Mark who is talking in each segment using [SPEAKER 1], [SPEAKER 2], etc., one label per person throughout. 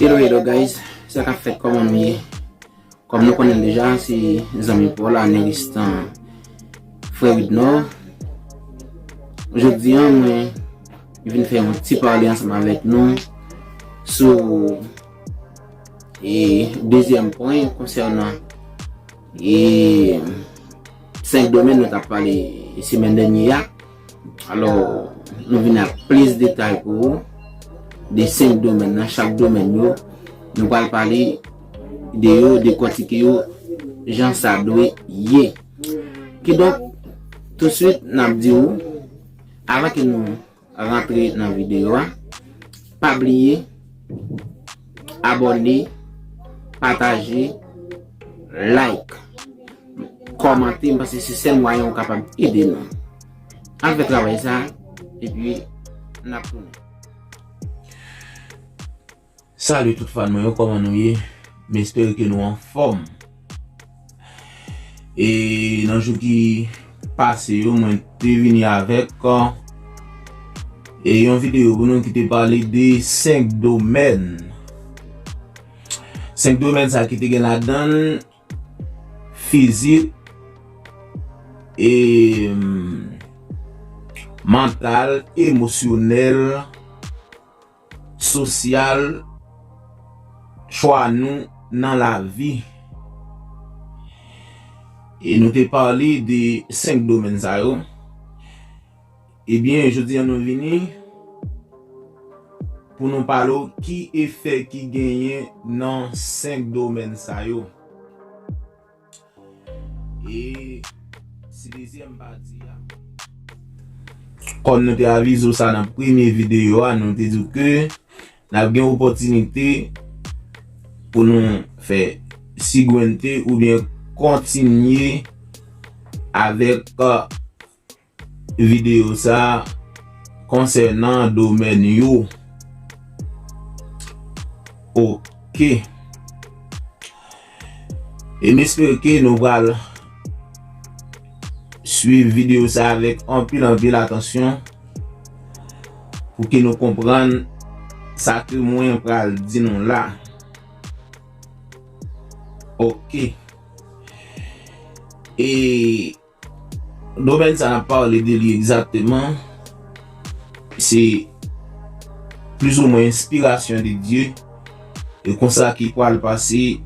[SPEAKER 1] Hello hello guys, sa ka fèt kòman nou ye? Kòm nou konnen deja, se zanmi pou la nan listan Frè Widnò. Jodi an mwen vin fè yon ti pale ansanm avèk nou sou e dezyèm pwen konsènan e 5 domèn nou tap pale semèn dènye ya. Alò, nou vin ak plis detay pou ou. De 5 domèn nan, chak domèn yo, nou pal pale de yo, de kòtike yo, jan sa dwe ye. Kidonk, tout swit, nap di ou, avan ke nou... Rantre nan video a. Pa bliye abone, pataje, like, komante paske se sèl mwayen ou kapab ede nou. An fè travay sa epi nap tounen.
[SPEAKER 2] Salut tout fan mwen yo koman nou ye m espere ke nou anfom e nan jou ki pase yo mwen te vini avek e yon video pou nou ki te pale de 5 domèn 5 domèn sa ki te gen la dan fizik e mantal emosyonel sosyal chwa nou nan lavi e nou te pale de 5 domèn sa yo ebyen jodi an nou vini pou nou pale w ki efè ki genyen nan 5 domèn sa yo. E si dezyèm pati a. Kòm nou te avize ou sa nan premye videyo a, nou te di ou ke n ap gen opòtinite pou nou fè sigwente oubyen kontinye avèk Videyo sa a konsènan domèn yo. Ok. E m espere ke nou pral swiv videyo sa a avèk anpil anpil atansyon pou ke nou konprann sa ke mwen pral di nou la. Ok. E. Domèn sa n ap pale de li egzakteman se plizoumwen enspirasyon de Dye, e konsa ki pral pase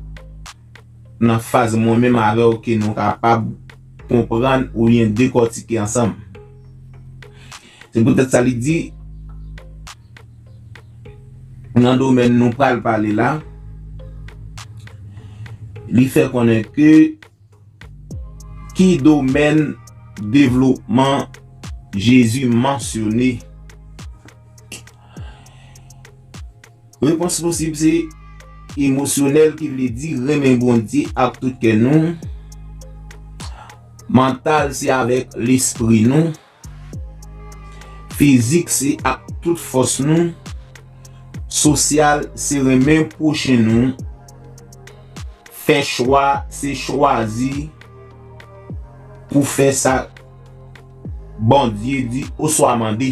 [SPEAKER 2] nan faz mwen menm avè w ke nou kapab konprann oubyen dekòtike ansanm. Se poutèt sa li di nan domèn nou pral pale la, li fè konnen ke. Ki domèn devlopman Jezi mansyone? Repons posib se emosyonèl ki vle di renmen Bondye ak tout kè nou, mantal se avèk lespri nou, Fizik se ak tout fòs nou. Sosyal se renmen pwochen nou. Fè chwa se chwazi pou fè sa Bondye di oswa mande.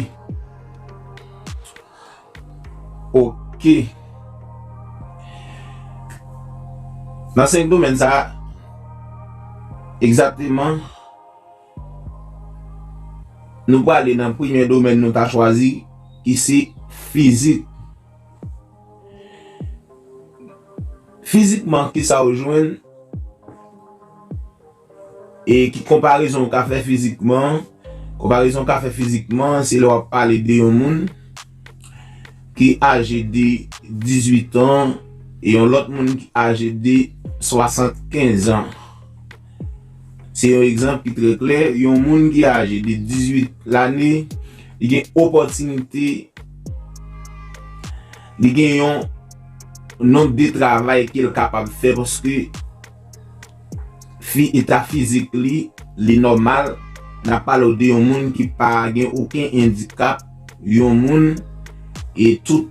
[SPEAKER 2] Ok. Nan senk domèn sa a, egzakteman. Nou prale nan premye domèn nou ta chwazi ki se fizik. Fizikman ki sa ou jwenn e ki konparezon ou ka fè fizikman. Konparezon ou ka fè fizikman se lè w ap pale de yon moun ki aje de 18 an e yon lòt moun ki aje de 75 an. Se yon egzanp ki trè klè, yon moun ki aje de 18 lane, li gen opòtinite, li gen yon nonb de travay ke l kapab fè paske fi eta fizik li, li nòmal, n ap pale w de yon moun ki pa gen oken endikap, yon moun e tout.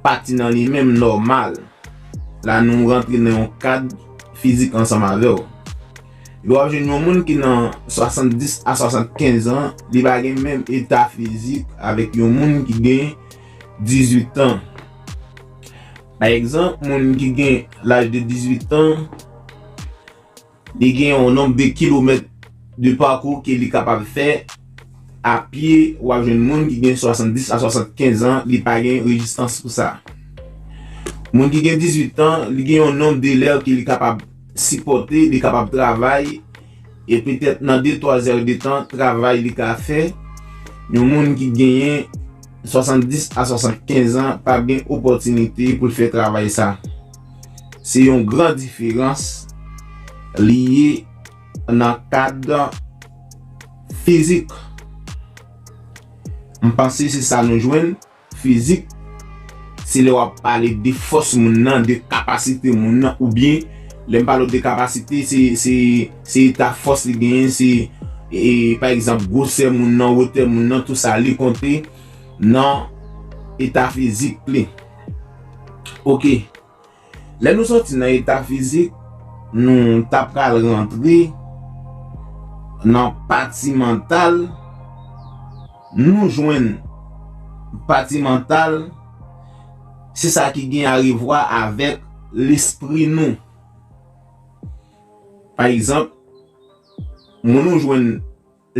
[SPEAKER 2] Pati nan li menm nòmal. La nou rantre nan yon kad fizik ansanm avè w. Epi w ap jwenn yon moun ki nan 70 a 75 an, li pa gen menm eta fizik avèk yon moun ki gen 18 an. Pa egzanp, moun ki gen laj de 18 an. Li gen yon nonb de kilomèt de pakou ke li kapab fè a pye, w ap jwenn moun ki gen 70 a 75 an li pa gen rejistans pou sa. Moun ki gen 18 tan, li gen yon nonb de lè ke li kapab sipòte, li kapab travay, e petèt nan de twa zè de tan travay li ka fè, yon moun ki genyen 70 a 75 an pa gen opòtinite pou l fè travay sa. Se yon gran diferans li ye nan kad fizik. M panse se sa nou jwenn, fizik se lè w ap pale de fòs moun nan, de kapasite moun nan oubyen lè m pale w de kapasite se eta fòs li genyen, se pa egzanp gwosè moun nan, wotè moun nan, tou sa li konte nan eta fizik li. Ok. Lè nou sòti nan eta fizik, nou ta pral rantre nan pati mantal, nou jwenn pati mantal se sa ki gen arevwa avèk lespri nou. Pa egzanp, moun ou jwenn.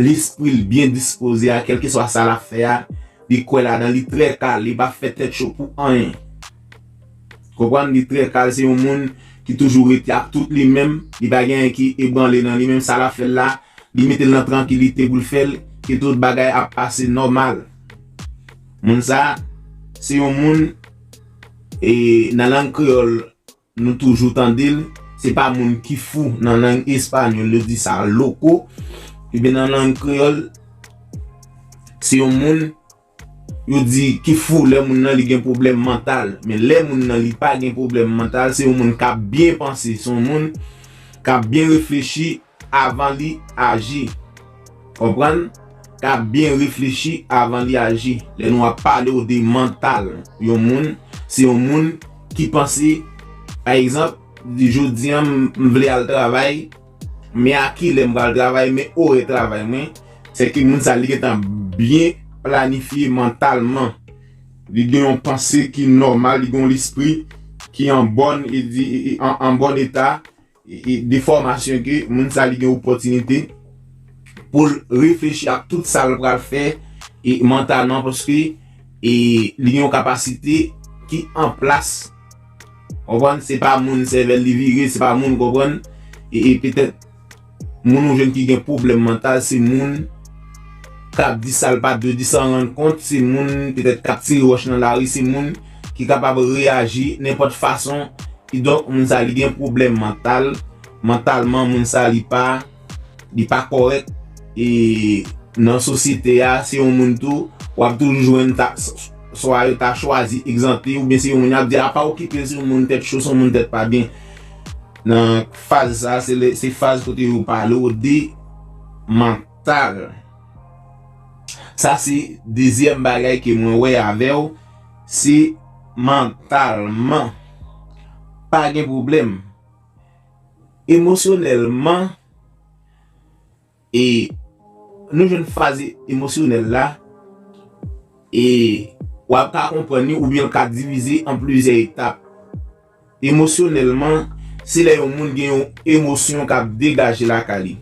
[SPEAKER 2] Lespri l byen dispoze a kèlkeswa sa l ap fè a, li kwè ladan li trè kal, li pa fè tèt cho pou anyen. Konprann li trè kal se yon moun ki toujou rete ak tout li menm, li pa gen anyen ki ebranle nan li menm sa l ap fè l la, li mete l nan trankilite pou l fè l e tout bagay ap pase nòmal. Moun sa se yon moun e nan lang kreyòl. Nou toujou tande l, se pa moun ki fou nan lang espanyòl yo di sa loco, ebyen nan lang kreyòl se yon moun yo di ki fou lè moun nan li gen pwoblèm mantal, men lè moun nan li pa gen pwoblèm mantal se yon moun k ap byen panse, se yon moun k ap byen reflechi. avan li aji konprann ka byen reflechi avan li aji lè nou ap pale w de mantal yon moun se yon moun ki panse pa egzanp jodi an m vle al travay men a kilè m pral travay men orè travay mwen se ke moun sa li gentan byen planifye mantalman li gen yon panse ki nòmal li gen yon lespri ki an bòn an bòn eta de fòmasyon ke moun sa li gen opòtinite pou l reflechi ak tout sa l pral fè e mantalman paske e li gen yon kapasite ki an plas konprann se pa moun sèvèl li vire se pa moun konprann e petèt moun ou jwenn ki gen pwoblèm mantal se moun k ap di sa l pa t dwe di san rann kont se moun petèt k ap tire wòch nan lari se moun. ki kapab reyaji nenpòt fason, kidonk moun sa li gen pwoblèm mantal, mantalman moun sa li pa li pa kòrèk e nan sosyete a se yon moun tou wap toujou jwenn ta swa yo ta chwazi egzante oubyen se yon moun yap di a pa okipe l se yon moun tèt cho se yon moun tèt pa byen nan faz sa se lè se faz kote yo pale w de mantal sa se dezyèm bagay ke mwen wè avè w Si mantalman pa gen pwoblèm, emosyonèlman e nou jwenn faz emosyonèl la e wap ka konprann li oubyen l ka divize an plizyè etap. Emosyonèlman, se lè yon moun gen yon emosyon k ap degaje lakay li.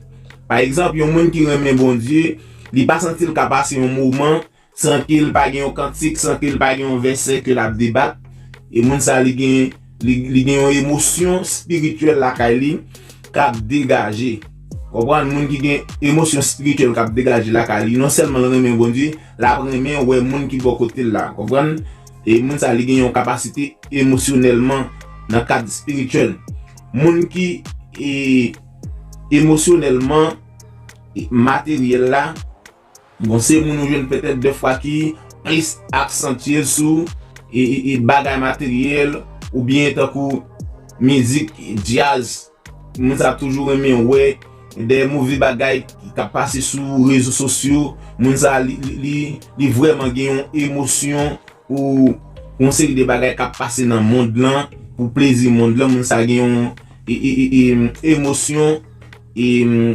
[SPEAKER 2] Pa egzanp, yon moun ki renmen Bondye, li pa santi l ka pase yon moman san ke l pa gen yon kantik, san ke l pa gen yon vèsè ke l ap debat. E moun sa li gen, li gen yon emosyon espirityèl lakay li k ap degaje. Konprann, moun ki gen emosyon espirityèl k ap degaje lakay li, non sèlman l renmen Bondye, l ap renmen wè moun ki bò kote l la. Konprann? E moun sa li gen yon kapasite emosyonèlman nan kad espirityèl. Moun ki e emosyonèlman e materyèl la, bon se moun ou jwenn petèt dè fwa ki plis aksantye l sou e bagay materyèl oubyen tankou mizik djaz. Mwen sa toujou renmen wè dèyè move bagay kap pase sou rezo sosyo moun sa li vrèman gen yon emosyon pou yon seri de bagay kap pase nan mond lan pou plezi mond lan moun sa gen yon emosyon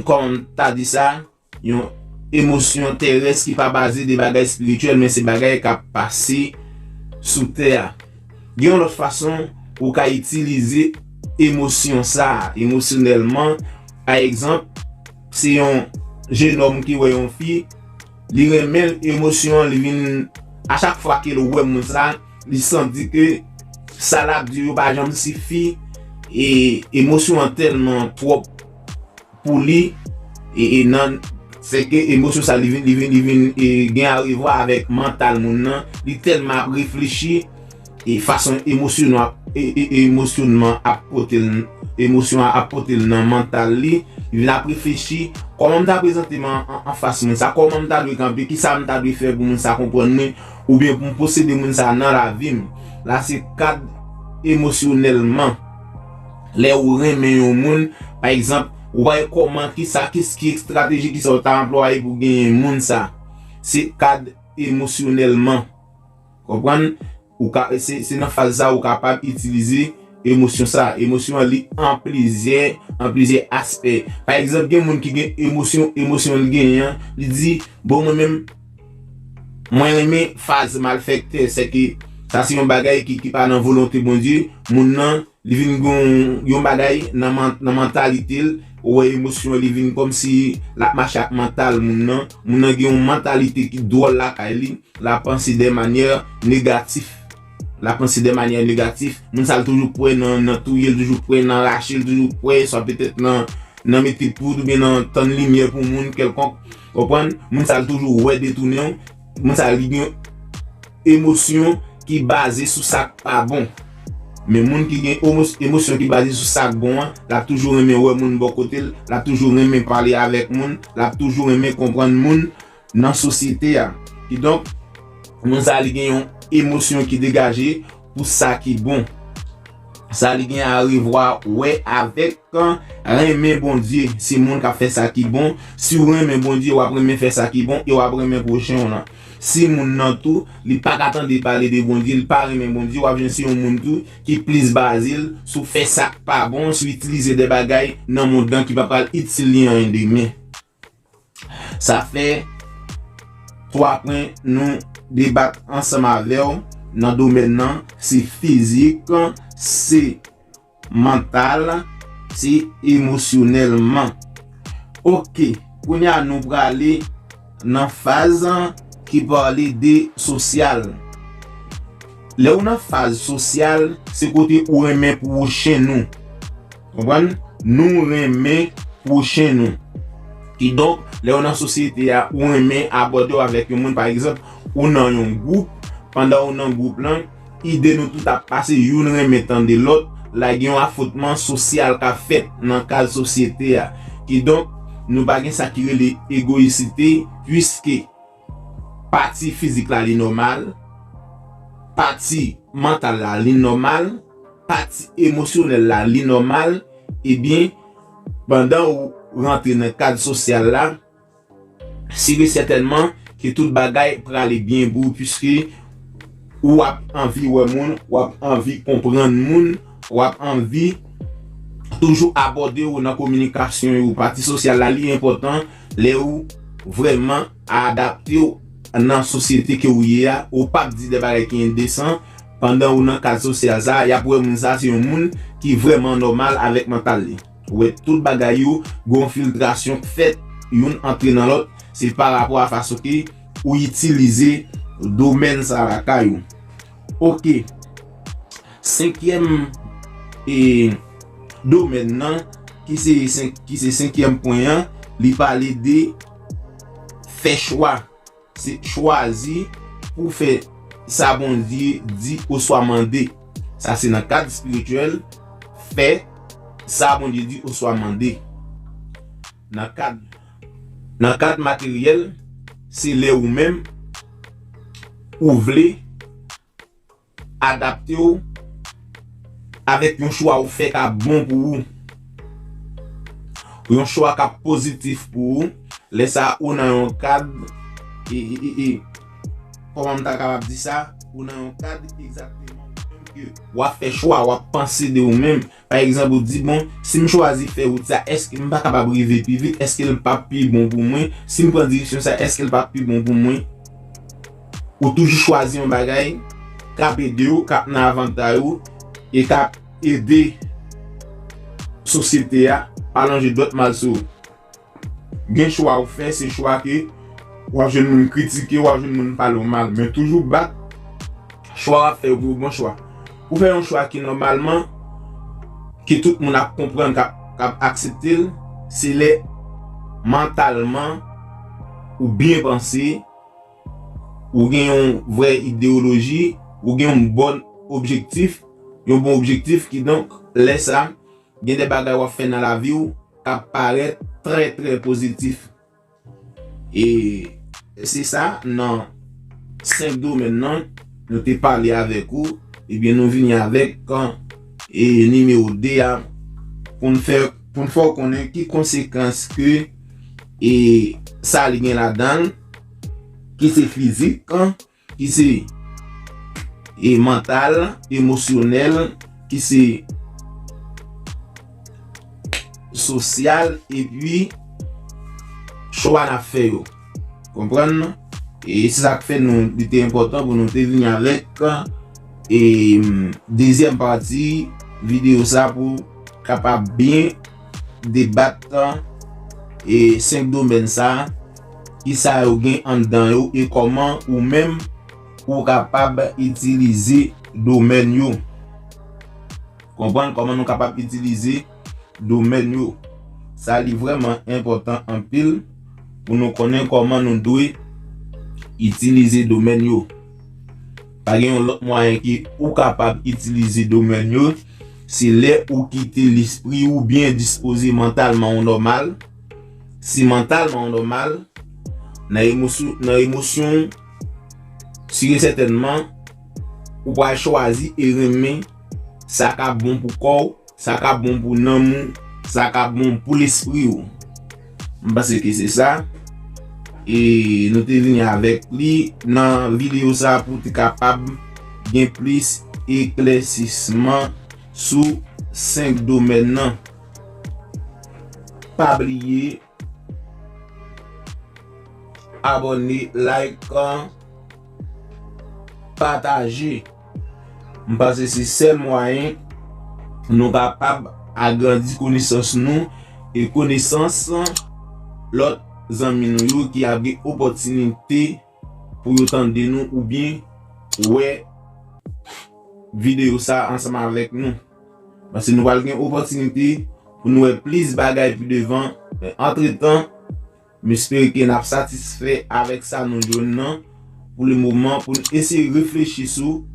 [SPEAKER 2] kòman ta di sa. Yon emosyon terès ki pa baze de bagay espirityèl men se bagay k ap pase sou tè a. Gen yon lòt fason ou ka itilize emosyon sa a emosyonèlman, pa egzanp, se yon jenòm ki wè yon fi, li renmen l, emosyon an li vin a chak fwa ke l wè moun sa a, li santi ke sa l ap di yo pa janm sifi e emosyon an tèlman twòp. pou li e nan. Se ke emosyon sa li vin, li vin, li vin gen arevwa avèk mantal moun nan, li tèlman ap reflechi e fason emosyon ap, emosyonman ap pote l, emosyon an ap pote l nan mantal li, li vin ap reflechi, kòman m ta prezante m anfas moun sa, kòman m ta dwe kanpe, kisa m ta dwe fè pou moun sa konprann mwen, oubyen pou m posede moun sa nan lavi m. La se kad emosyonèlman. Lè ou renmen yon moun, pa egzanp, ou pa gen kòman, kisa, kis, ki estrateji, kisa ou ta anplwaye pou genyen moun sa? Se kad emosyonèlman. Konprann? Ou ka, se, se nan faz sa ou kapab itilize emosyon sa. Emosyon an li an plizyè, an plizyè aspè. Pa egzanp gen moun ki gen emosyon, emosyon li genyen an, li di, bon mwen menm, Mwen renmen faz malfèktè, sèke sa se yon bagay ki pa nan volonte Bondye, moun nan li vin gen yon bagay nan mantalite l, ou wè emosyon li vin kòmsi lap mache ak mantal moun nan, moun nan gen yon mantalite ki dwòl lakay li, lap panse de manyè negatif, lap panse de manyè negatif, moun sa l toujou prè nan touye l, toujou prè nan rache l, toujou prè swa petèt nan mete poud oubyen nan tann limyè pou moun kèlkonk. Konprann, moun sa l toujou wè detounen w, moun sa li gen yon emosyon ki baze sou sa k pa bon. Men moun ki gen emosyon ki baze sou sa k bon an, l ap toujou renmen wè moun bò kote l, l ap toujou renmen pale avèk moun, l ap toujou renmen konprann moun nan sosyete a. Kidonk, moun sa li gen yon emosyon ki degaje pou sa ki bon. Sa li gen arevwa wè avèk renmen Bondye. Se moun k ap fè sa ki bon. Si w renmen Bondye, w ap renmen fè sa ki bon e w ap renmen pwochen w lan. Si moun nan tou, li pa ka tande pale de Bondye, li pa renmen Bondye, w ap jwenn se yon moun tou ki plis baze l sou fè sa k pa bon, sou itilize de bagay nan mond lan ki pa pral itil li anyen demen. Sa fè 3 pwen nou debat ansanm avè w nan domèn nan, se fizik, se mantal, se emosyonèlman. Ok, kounye a nou prale nan faz ki pale de sosyal. Lè ou nan faz sosyal, se kote ou renmen pwochen ou. Konprann? Nou renmen pwochen nou. Kidonk, lè ou nan sosyete a, ou renmen abòde w avèk yon moun. Pa egzanp, ou nan yon gwoup, pandan ou nan gwoup lan, ide nou tout ap pase, youn renmen tande lòt, la gen yon afwontman sosyal k ap fèt nan kad sosyete a. Kidonk, nou pa gen sa ki rele egoyisite, puiske. Pati fizik la li nòmal, pati mantal la li nòmal, pati emosyonèl la li nòmal, ebyen pandan ou rantre nan kad sosyal la, sur et certainement ke tout bagay prale byen pou ou puiske ou ap anvi wè moun, ou ap anvi konprann moun, ou ap anvi toujou abòde ou nan kominikasyon yo. Pati sosyal la li enpòtan. Lè ou vrèman adapte w nan sosyete ke ou ye a, ou pap di de bagay ki endesan, pandan ou nan kad sosyal sa a, yap wè moun sa a se yon moun ki vrèman nòmal avèk mantal li. Ou wè tout bagay yo, gen yon filtrasyon k fèt, youn antre nan lòt, se parapò a fason ke ou itilize domèn sa a lakay ou. Ok, senkyèm e domèn nan ki se senkyèm pwen an, li pale de fè chwa. Se chwazi pou w fè sa Bondye di oswa mande. Sa se nan kad espirityèl, fè sa Bondye di oswa mande. Nan kad Nan kad materyèl, se lè ou menm ou vle adapte w avèk yon chwa ou fè k ap bon pou ou, yon chwa k ap pozitif pou ou, lè sa ou nan yon kad, kòman m ta kapab di sa, ou nan yon kad egzakteman ou menm ke w ap fè chwa, w ap panse de ou menm. Pa egzanp, ou di, 'Bon, si m chwazi fè wout sa, èske m pa kapab rive pi vit? Èske l pap pi bon pou mwen? Si m pran direksyon sa, èske l pap pi bon pou mwen? Ou toujou chwazi yon bagay k ap ede ou, k ap nan avantay ou e k ap ede sosyete a pa lonje dwèt mal sou ou. Gen chwa ou fè se chwa ke wap jwenn moun kritike, wap jwenn moun pale w mal men toujou bat chwa wap fè yo pou yon bon chwa. Ou fè yon chwa ki nòmalman ke tout moun ap konprann kap aksepte l se lè mantalman ou byen panse, ou gen yon vrè ideyoloji, ou gen yon bòn objektif, yon bon objektif kidonk lè sa Gen de bagay w ap fè nan lavi w k ap parèt trè trè pozitif. E se sa nan 5 domèn nan nou te pale avèk ou, ebyen nou vini avèk nimewo 2 a pou n fè pou n fè w konnen ki konsekans ke sa li gen ladan l ki se fizik. ki se e mantal, emosyonèl, ki se sosyal epi chwa n ap fè yo. Konprann nou? E se sa k fè nou li te enpòtan pou nou te vini avèk e dezyèm pati videyo sa pou kapab byen debat e 5 domèn sa a, ki sa yo gen anndan yo e kòman ou menm ou kapab itilize domèn yo. Konprann kòman nou kapab itilize domèn yo. Sa li vrèman enpòtan anpil pou nou konnen kòman nou dwe itilize domèn yo. Pa gen yon lòt mwayen ke ou kapab itilize domèn yo. Se lè ou kite lespri ou byen dispoze mantalman ou nòmal, si mantalman ou nòmal, nan emosyon ou, si e sètènman, ou pral chwazi e renmen sa kap bon pou kò ou, sa kap bon pou nanm ou, sa kap bon pou lespri ou. M panse ke se sa. E nou te vini avèk li nan videyo sa pou te kapab gen plis eklèsisman sou 5 domèn nan. Pa bliye abòne, like, pataje. M panse se sèl mwayen nou kapab agrandi konesans nou e konesans lòt zanmi nou yo ki ap gen opòtinite pou yo tande nou oubyen wè videyo sa ansanm avèk nou. Paske nou pral gen opòtinite pou nou wè plis bagay pi devan men antretan. M espere ke n ap satisfè avèk sa nou jwenn nan pou le moman pou n eseye reflechi sou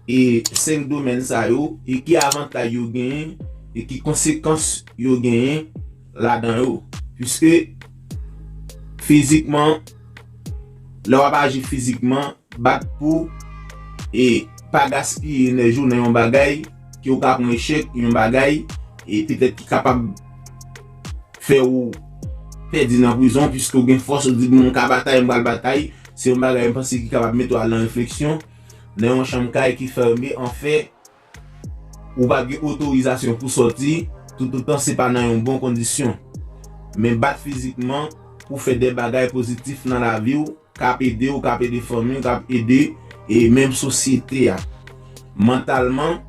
[SPEAKER 2] e 5 domèn sa yo e ki avantaj yo genyen e ki konsekans yo genyen ladan yo. Piske fizikman, lè w ap aji fizikman, bat pou e pa gaspiye enèji w nan yon bagay, ke ou ka pran echèk, yon bagay, e petèt ki kapab fè ou pèdi nan prizon, piske ou gen fòs, ou di bon, m ka batay, m pral batay, se yon bagay m panse ki kapab mete ou al nan refleksyon, nan yon chanm kay ki fème, anfè, ou pa gen otorizasyon pou sòti, toutotan se pa nan yon bon kondisyon. Men bat fizikman pou fè de bagay pozitif nan lavi ou, Kap ede ou, kap ede fanmi ou, kap ede e menm sosyete a. Mantalman,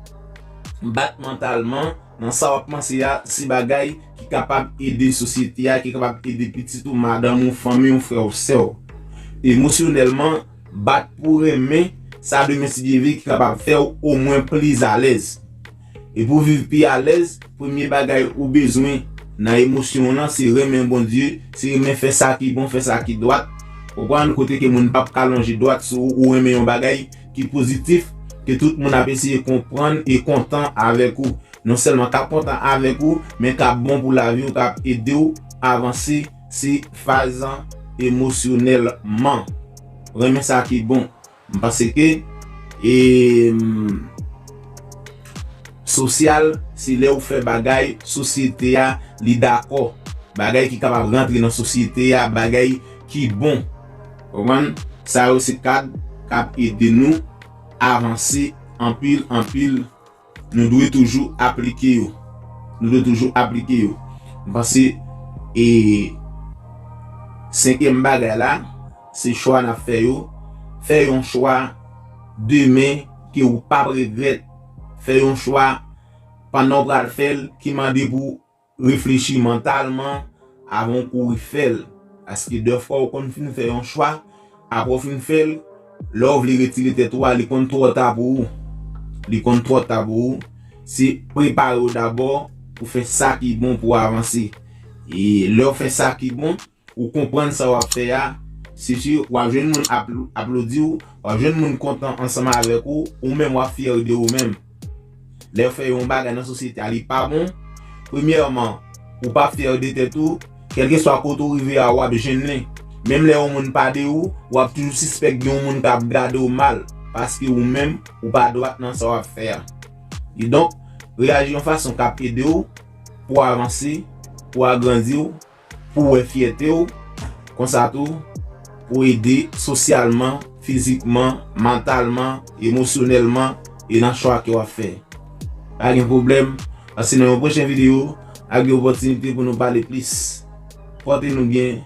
[SPEAKER 2] bat mantalman nan sa wap panse a, se bagay ki kapab ede sosyete a, ki kapab ede pitit ou, madanm ou, fanmi ou, frè ou, sè ou. Emosyonèlman, bat pou renmen sa demen si Dye vle ki kapab fèw omwen plis alèz. E pou w viv pi alèz, premye bagay ou bezwen nan emosyon w lan se renmen Bondye, se renmen fè sa ki bon, fè sa ki dwat. Konprann kote ke moun pap ka lonje dwat sou ou, ou renmen yon bagay ki pozitif, ke tout moun ap eseye konprann e kontan avèk ou. Non sèlman kap kontan avèk ou, men kap bon pou lavi w, kap ede w avanse, se faz emosyonèlman. Renmen sa ki bon. M panse ke Sosyal se lè ou fè bagay sosyete a li dakò, bagay ki kapab rantre nan sosyete a, bagay ki bon. Konprann? Sa yo se kad k ap ede nou avanse anpil anpil. Nou dwe toujou aplike yo. Nou dwe toujou aplike yo. M panse e senkyèm bagay la, se chwa n ap fè yo. Fè yon chwa demen ke ou p ap regrèt. Fè yon chwa pandan ou pral fè l ki mande pou Reflechi mantalman avan w kouri fè l, paske dèfwa ou konn fin fè yon chwa, apre w fin fè l, lè w vle retire tèt ou a li konn twò ta pou ou. Li konn twò ta pou ou. Se prepare w dabò pou fè sa ki bon pou w avanse. E lè w fè sa ki bon, Ou konprann sa wap fè a, se si wap jwenn moun ap aplodi w, wap jwenn moun kontan ansanm avèk ou, ou menm wap fyè de ou menm. Lèw fè yon bagay nan sosyete a li pa bon, premyèman ou pa fyè de tèt ou, kèlkeswa kote ou rive a wap jennen. Menm lè yon moun pa de ou, wap toujou sispèk gen yon moun kap gade w mal, paske ou menm ou pa dwat nan sa wap fè a. Kidonk, reyaji yon fason kap ede w pou avanse, pou agrandiw, Pou w wè fyète w, konsa tou, pou w ede sosyalman, fizikman, mantalman, emosyonèlman e nan chwa ke w ap fè. Pa gen pwoblèm, pase nan yon pwochen videyo ak yon opòtinite pou nou pale plis. Pòte nou byen,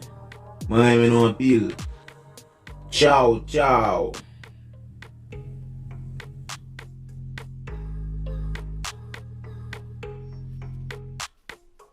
[SPEAKER 2] mwen renmen nou anpil. Tchaw tchaw!